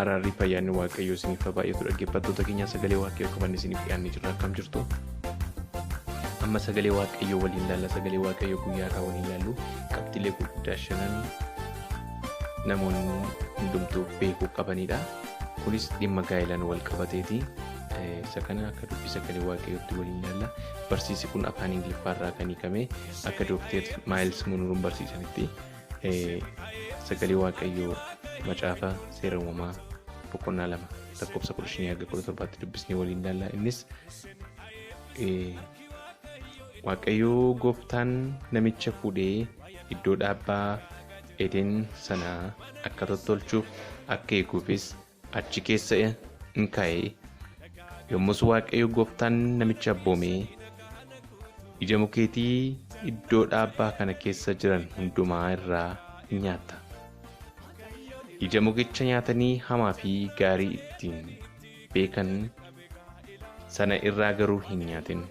Araarri fayyaanni waaqayyoo isiniif haa baay'atu dhaggeeffattoota keenya sagalee waaqayyoo qabanne isiniif dhiyaannee jirra akkam jirtu. Amma sagalee waaqayyoo waliin laalla sagalee waaqayyoo guyyaa irraa waliin laallu qabxiilee gurguddaa shanan namoonni hundumtuu beekuu qabanidha. Kunis dhimma gaa'elaan wal qabateeti. Isa kana akka dubbii sagalee waaqayyootti waliin laalla. Barsiisi kun afaan Ingiliffaa irraa kan hiikame akka Dookteer Maayils Munuruun barsiisanitti. sagalee waaqayyoo macaafa seera uumamaa boqonnaa lama lakkoofsa kudha shanii haga kudha torbaatti dubbisnee waliin ilaalla innis waaqayyoo gooftaan namicha fuudhee iddoo dhaabbaa edeen sanaa akka tottolchuuf akka eeguufis achi keessa in kaa'e. Yommus Waaqayyo gooftaan namicha abboomee, Ija mukeetii iddoo dhaabbaa kana keessa jiran hundumaa irraa in nyaatta. Ija mukicha nyaatanii hamaa fi gaarii ittiin beekan sana irraa garuu hin nyaatin.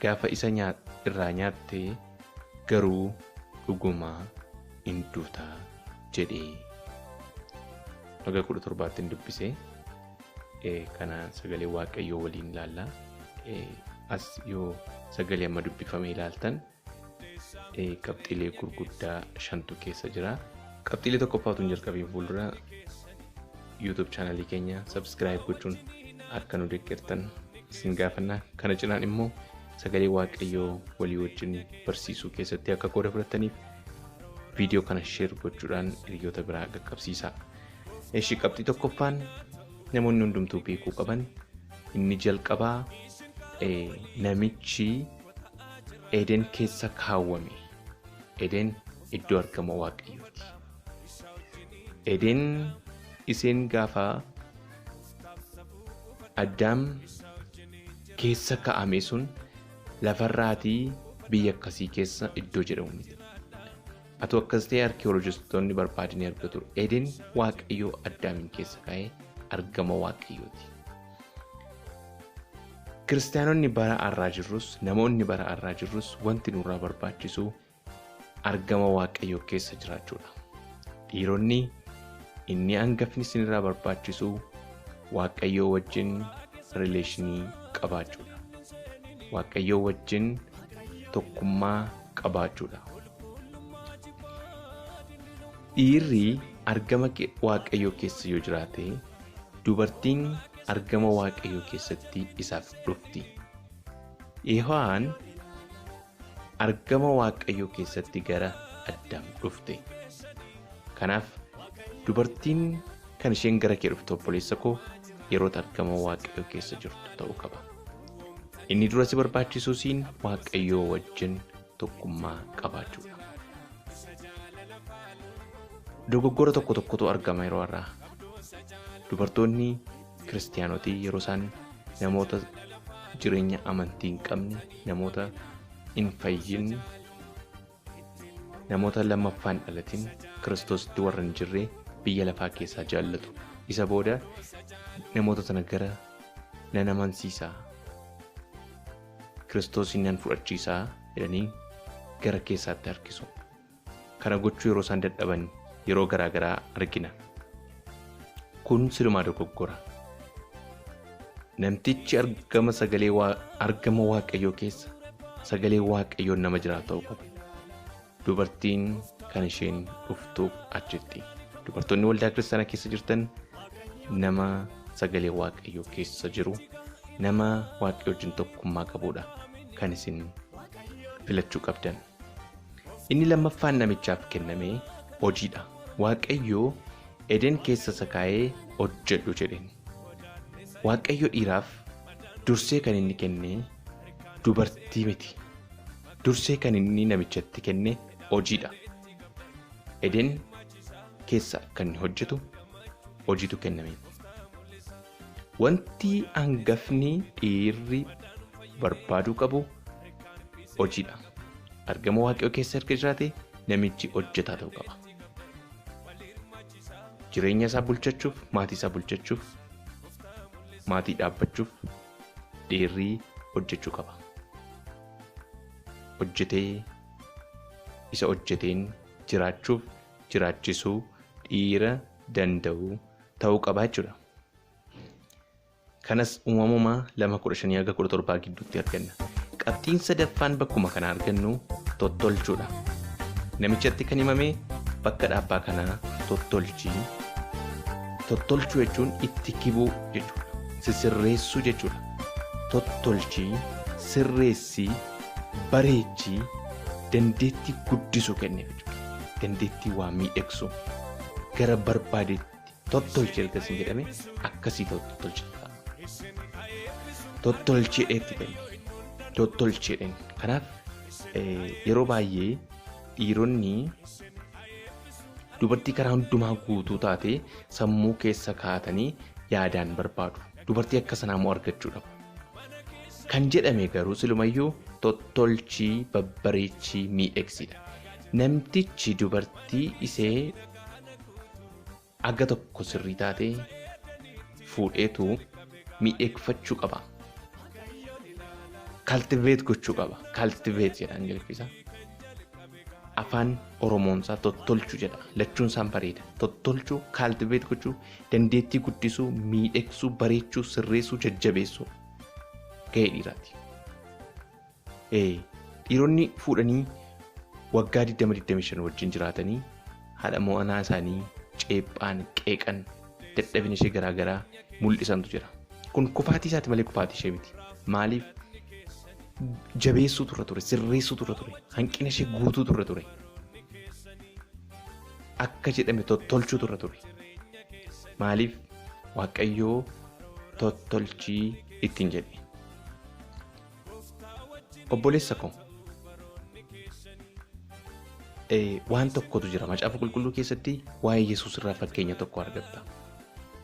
Gaafa isa nyaa- irraa nyaatte Garuu dhuguma in duuta jedhe. Haga kudha torbaattiin dubbise. Eh, Kana sagalee waaqayyoo waliin ilaalla. Eh, As yoo sagalee amma dubbifame ilaaltan eh, qabxiilee gurguddaa shantu keessa jira. Qabxiilee tokkoffaatu hin jalqabiin fuuldura YouTube chaanalii keenya subscribe gochuun akka nu deeggartan isin gaafanna. Kana cinaan immoo sagalee waaqayyoo walii wajjin barsiisuu keessatti akka qooda fudhataniif viidiyoo kana sheer gochuudhaan hiriyoota biraa qaqqabsiisaa. Eshi qabxii tokkoffaan namoonni hundumtuu beekuu qaban inni jalqabaa namichi Eden keessa kaawwame. Eden iddoo argama waaqayyooti. Eden isheen gaafa Addaam keessa ka'amee sun lafarraatii biyya akkasii keessa iddoo jedhamu miti. Atoo akkas ta'e arkiyoolojistoonni barbaadanii argatu. Eden waaqayyoo addaamiin keessa ka'ee argama waaqayyooti. Kiristaanonni bara arraa jirrus namoonni bara arraa jirrus wanti nurraa barbaachisu argama waaqayyoo keessa jiraachuudha. Dhiironni inni hangafni isinirraa barbaachisu waaqayyoo wajjin rileeshinii qabaachuudha. Waaqayyoo wajjin tokkummaa qabaachuudha. Dhiirri argama ke- waaqayyoo keessa yoo jiraate dubartiin argama waaqayyoo keessatti isaaf dhufti. Yihowaan argama Waaqayyoo keessatti gara Addaam dhufte. Kanaaf dubartiin kan isheen gara kee dhufte obboleessa koo yeroo argama Waaqayyoo keessa jirtu ta'uu qaba. Inni dura si barbaachisuusiin Waaqayyoo wajjin tokkummaa qabaachuudha. Dogoggora tokko tokkotu argama yeroo har'aa. Dubartoonni kiristiyaanoti yeroo isaan namoota jireenya amantii hin qabne namoota hin fayyin namoota lammaffaan dhalatin kiristoositti warra hin jirre biyya lafaa keessaa jaallatu isa booda namoota sana gara nan amansiisaa kiristoosiin nan fudhachiisaa jedhanii gara keessaatti harkisu. kana gochuu yeroo isaan dadhaban yeroo garaa garaa argina. Kun silumaa dogoggora. Namtichi argama sagalee waa- argama waaqayyoo keessa sagalee waaqayyoon nama jiraa ta'uu qaba. Dubartiin kan isheen dhuftuuf achitti. Dubartoonni waldaa kiristaanaa keessa jirtan nama sagalee waaqayyoo keessa jiru nama waaqayyo wajjin tokkummaa qabudha kan isin filachuu qabdan. Inni lammaffaan namichaaf kenname hojiidha. Waaqayyo Eden keessa isa kaa'ee hojjedhu jedheen. Waaqayyo dhiiraaf dursee kan inni kenne dubartii miti. Dursee kan inni namichatti kenne hojiidha. Eden keessa kan inni hojjetu hojiitu kenname. Wanti hangafni dhiirri barbaaduu qabu hojiidha. Argama waaqayyoo keessa erga jiraate namichi hojjetaa ta'uu qaba. Jireenya isaa bulchachuuf, maatii isaa bulchachuuf, maatii dhaabbachuuf dhiirri hojjechuu qaba. Hojjetee isa hojjeteen jiraachuuf jiraachisuu dhiira danda'u ta'uu qaba jechuudha. Kanas uumamumaa lama kudha shanii haga kudha torbaa gidduutti arganna. Qabxiin sadaffaan bakkuma kana argannu tottolchuudha. Namichatti kan himame bakka dhaabbaa kanaa tottolchi. Tottolchuu jechuun itti kibuu jechuudha. Sisirreessuu jechuudha. Tottolchi, sirreessi, bareechi, dandeettii guddisuu kenneef jechuudha. Dandeettii waa miidhagsuu. gara barbaadetti tottolchi erga isin jedhame akkasii tottolcha tottolcheedha itti kenna tottolcheedha kanaaf eh, yeroo baay'ee dhiironni dubartii karaa hundumaa guutuu taate sammuu keessa kaatanii yaadaan barbaadu dubartii akka sanaa immoo argachuu dhabu kan jedhame garuu silumayyuu tottolchii babbareechii miidhegsiidha Namtichi dubartii isee aga tokko sirrii taate fuudheetu miidheegfachuu qaba. Cultivate gochuu qaba. Cultivate jedha Ingiliffisa. Afaan Oromoonsaa tottolchu jedha. Lachuun isaan bareeda. Tottolchu, cultivate gochuu, dandeettii guddisuu, miidhegsuu, bareechuu, sirreessuu, jajjabeessuu. Gahee dhiiraati. Ee, dhiironni fuudhanii waggaa 20-25 wajjin jiraatanii haadha mo'anaa isaanii ceephaan, qeeqan, dadhabina ishee garaa garaa mul'isantu jira. Kun kufaatii isaati malee kufaatii ishee miti. Maaliif? Jabeessuutu irra ture, sirreessuutu irra ture, hanqina ishee guutuutu irra ture. Akka jedhame tottolchuutu irra ture. Maaliif? Waaqayyoo tottolchii ittiin jedhe. Obboleessa koo eh, waan tokkotu jira macaafa qulqulluu keessatti waa'ee Yesuus irraa fakkeenya tokko argatta.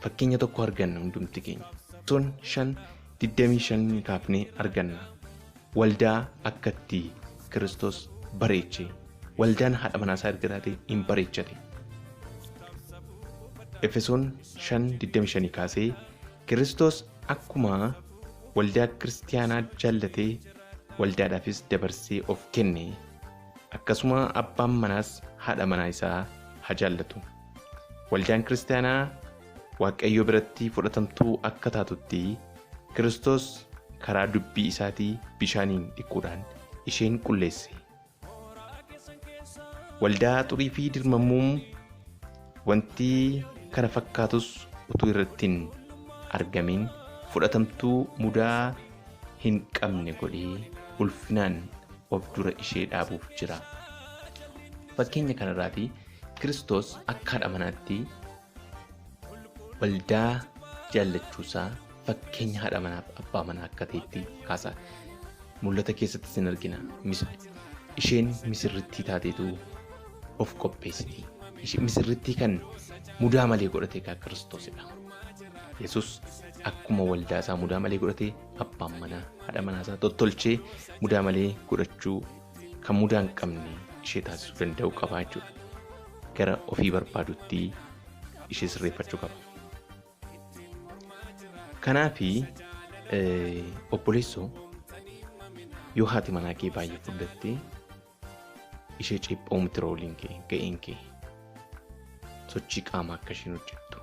Fakkeenya tokko arganna hundumti keenya. Sun shan digdamii shan kaafnee arganna. Waldaa akkatti Kiristoos bareeche. Waldaan haadha manaa isaa erga taate hin bareechate. Efesoon shan digdamii shanii kaasee Kiristoos akkuma waldaa kiristaanaa jaallatee waldaadhaafis dabarsee of kenne akkasuma abbaan manaas haadha manaa isaa haa jaallatu waldaan kiristaanaa waaqayyo biratti fudhatamtuu akka taatutti kiristoos karaa dubbii isaatii bishaaniin dhiquudhaan isheen qulleesse Waldaa xurii fi dirmammuum wanti kana fakkaatus utuu irratti hin argamin fudhatamtuu mudaa hin qabne godhee ulfinaan of dura ishee dhaabuuf jira. Fakkeenya kanarraati Kiristoos akka haadha manaatti waldaa jaallachuusaa fakkeenya haadha manaaf abbaa manaa akka ta'etti kaasa. Mul'ata keessatti sin argina. Isheen misirrittii taateetu of qopheessiti. Misirrittii kan mudaa malee godhate egaa kiristoosidha. Yesus akkuma waldaa isaa mudaa malee godhate abbaan manaa haadha manaa isaa tottolchee mudaa malee godhachuu kan mudaa hin qabne ishee taasisuu danda'u qabaa jechuudha. gara ofii barbaadutti ishee sirreeffachuu qaba. Kanaaf obboleessoo yoo haati manaa kee baay'ee fudhattee ishee ceepha'uu miti rooliin kee ga'een kee sochii qaamaa akka isheen hojjettu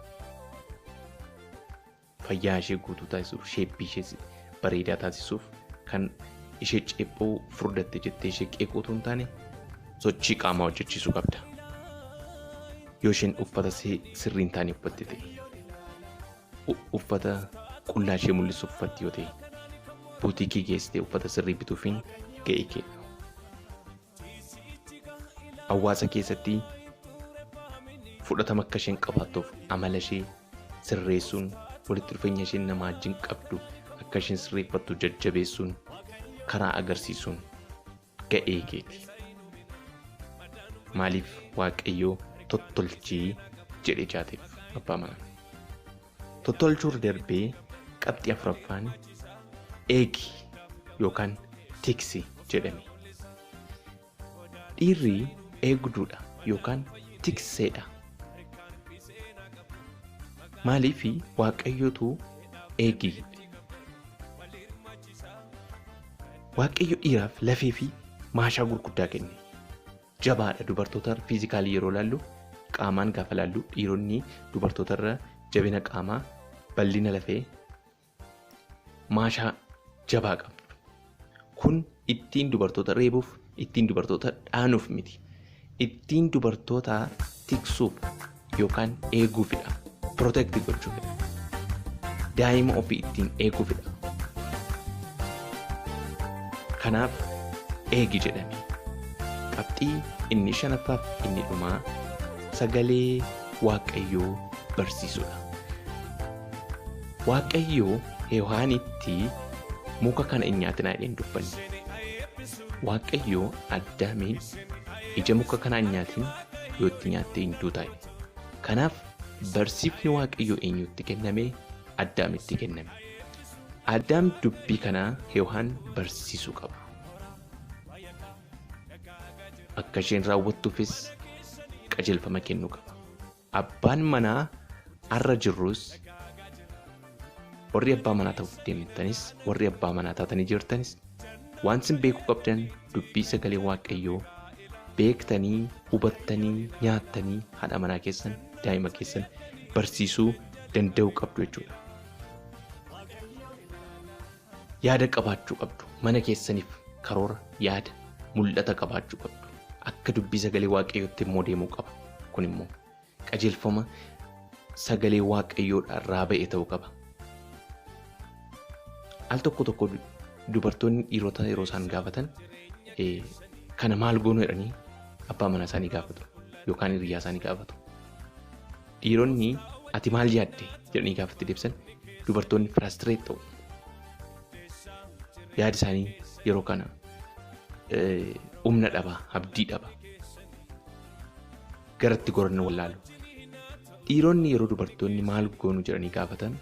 fayyaa ishee guutuu taasisuuf sheeppii ishee bareedaa taasisuuf kan ishee ceephoo furdatte jettee ishee qeequu otoo hin taane sochii qaamaa hojjechiisuu qabda. Yoo isheen uffata sirrii hin taane uffatte ta'e uffata qullaa ishee mul'isu uffatti yoo ta'e buutiikii geessitee uffata sirrii bituufiin ga'ee kee. Hawaasa keessatti fudhatama akka isheen qabaattuuf amala ishee sirreessuun walitti dhufeenya isheen namaa wajjin qabdu akka isheen sirreeffattu jajjabeessuun karaa agarsiisuun ga'ee keeti. Maaliif waaqayyoo tottolchii jedhe jaateef abbaa manaa. tottolchuurra darbee qabxii afuraffaan eegi yookaan tiksi jedhame. Dhiirri eegduudha yookaan tikseedha. Maaliif waaqayyotu eegi jedhe? Waaqayyo dhiiraaf lafee fi maashaa gurguddaa kenne. jabaadha dubartoota fiizikaalii yeroo laallu qaamaan gaafa laallu dhiironni dubartoota irra jabina qaamaa bal'ina lafee maashaa jabaa qabdu. Kun ittiin dubartoota reebuuf ittiin dubartoota dhaanuuf miti. Ittiin dubartoota tiksuuf yookaan eeguufidha. Protect gochuufidha. Daa'ima ofii ittiin eeguufidha. Kanaaf eegi jedhame. Qabxii inni shanaffaaf inni dhumaa sagalee waaqayyoo barsiisudha. Waaqayyoo Hewaanitti muka kana hin nyaatinaa jedhee hin dubbanne. Waaqayyoo Addaamiin ija muka kanaa hin nyaatin yoo itti nyaattee hin duutaa kanaaf barsiifni waaqayyoo eenyutti kenname addaamitti kenname addaam dubbii kanaa heewaan barsiisuu qabu akka isheen raawwattuufis qajeelfama kennuu qaba abbaan manaa arra jirrus warri abbaa manaa ta'uuf deemtanis warri abbaa manaa taatanii jirtanis waan isin beekuu qabdan dubbii sagalee waaqayyoo beektanii hubattanii nyaattanii haadha manaa keessan daa'ima keessan barsiisuu danda'uu qabdu jechuudha. Yaada qabaachuu qabdu mana keessaniif karoora yaada mul'ata qabaachuu qabdu akka dubbii sagalee waaqayyootti immoo deemuu qaba kun immoo qajeelfama sagalee waaqayyoodha irraa ba'e ta'uu qaba. Al tokko tokko dubartoonni dhiirota yeroo isaan gaafatan kana maal goonu jedhanii abbaa manaa isaanii gaafatu yookaan hiriyyaa isaanii gaafatu. Dhiironni ati maal yaadde jedhanii gaafatti deebisan dubartoonni firaastireet ta'u. Yaada isaanii yeroo kana humna dhaba, abdii dhaba. garatti goranna wallaalu. Dhiironni yeroo dubartoonni maal goonu jedhanii gaafatan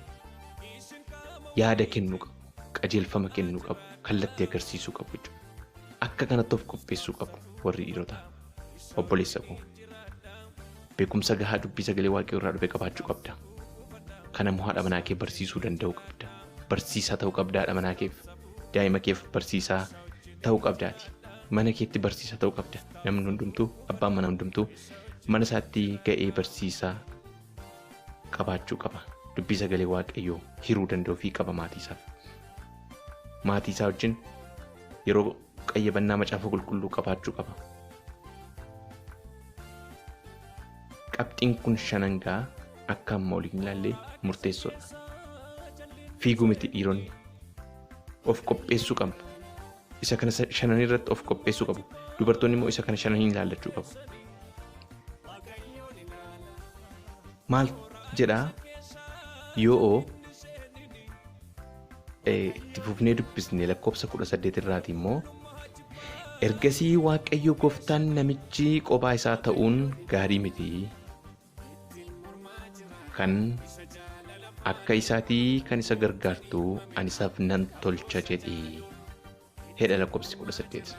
yaada kennuu qabu, qajeelfama kennuu qabu, kallattii agarsiisuu qabu jechuudha. Akka kanatti of qopheessuu qabu warri dhiirotaa. Obboleessa koo beekumsa gahaa dubbii sagalee waaqayyoo irraa dhufe qabaachuu qabda. Kana immoo haadha manaa kee barsiisuu danda'uu qabda. Barsiisaa ta'uu qabda haadha manaa keef. Daa'ima keef barsiisaa ta'uu qabdaati. mana keetti barsiisaa ta'uu qabda namni hundumtuu abbaan manaa hundumtuu mana isaatti ga'ee barsiisaa qabaachuu qaba dubbii sagalee waaqayyoo hiruu danda'uu fi qaba maatii isaaf maatii isaa wajjin yeroo qayyabannaa macaafa qulqulluu qabaachuu qaba qabxiin kun shanangaa akka amma oliin ilaallee murteessoodha fiiguu miti dhiironni of qopheessuu qabna isa kana sa- shananii irratti of qopheessuu qabu dubartoonni immoo isa kana shananii ilaallachuu qabu maal jedhaa yoo eh, itti fufnee dubbisne lakkoofsa 18 irraati immoo ergasii waaqayyo gooftaan namichi qophaa isaa ta'uun gaarii miti kan akka isaatii kan isa gargaartu ani isaaf nan tolcha jedhi hedha lakkoofsi 18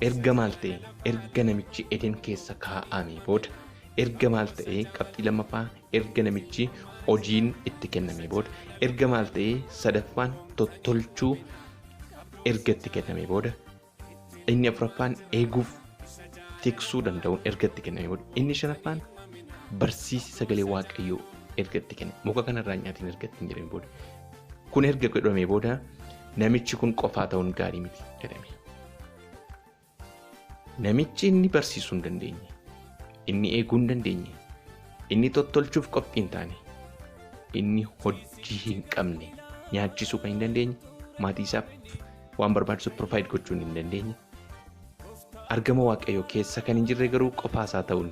erga maal ta'e erga namichi eden keessa kaa'ame booda erga maal ta'e qabxii lammaffaa erga namichi hojiin itti kenname booda erga maal ta'e sadaffaan tottolchuu erga itti kenname booda Inni afuraffaan eeguuf tiksuu danda'uun erga itti kenname booda inni shanaffaan barsiisi sagalee waaqayyoo erga itti kenne muka kanarraa nyaatiin erga itti hin jedhame booda kun erga godhamee booda namichi kun qofaa ta'uun gaarii miti jedhame. Namichi inni barsiisuu hin dandeenye inni eeguu hin dandeenye inni tottolchuuf qophii hin taane inni hojii hin qabne nyaachisuu kan hin dandeenye maatii isaaf waan barbaachisu provide gochuun hin dandeenye. Argama Waaqayyoo keessa kan hin jirre garuu qofaasaa ta'uun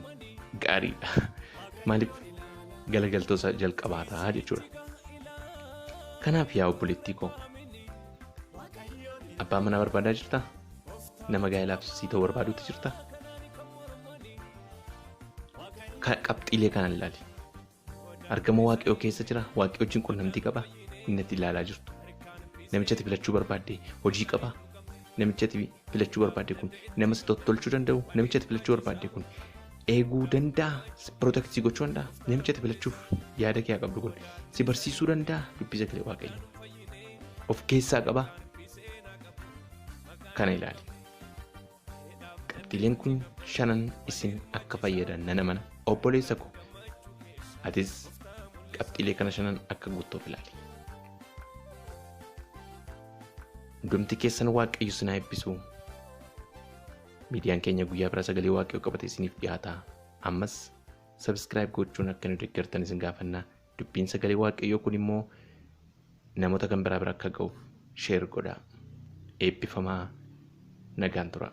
gaariidha. Maaliif galagaltoosa jalqabaataa jechuudha. Kanaaf yaa obboleettii koo abbaa manaa barbaadaa jirtaa? Nama gaa'elaaf sii ta'u barbaaduutti jirtaa? Ka- Qabxiilee kanaan ilaali. Argama Waaqayyoo keessa jira? Waaqayyo wajjin qunnamtii qaba? Inni ati ilaalaa jirtu. Namicha ati filachuu barbaadde hojii qaba? Namicha ati filachuu barbaadde kun nama si tottolchuu danda'u? Namicha ati filachuu barbaadde kun eeguu danda'a? Si protect si gochuu danda'a? Namicha ati filachuuf yaada kee haa qabdu kun si barsiisuu danda'a? Dubbisa galee Waaqayyo. Of keessaa qaba? Kana ilaali. qabxiileen kun shanan isin akka fayyadan nan amana obboleessa ko atis qabxiilee kana shanan akka guuttoof ilaali. Hundumti keessan waaqayyo sinaa eebbisu. Miidiyaan keenya guyyaa bira sagalee waaqayyo qabate isiniif dhiyaata. Ammas sabiskiraayib gochuun akka nu deeggartan isin gaafanna. Dubbiin sagalee waaqayyoo kun immoo namoota kan biraa bira akka ga'uuf sheer godhaa. Eebbifamaa nagaan turaa.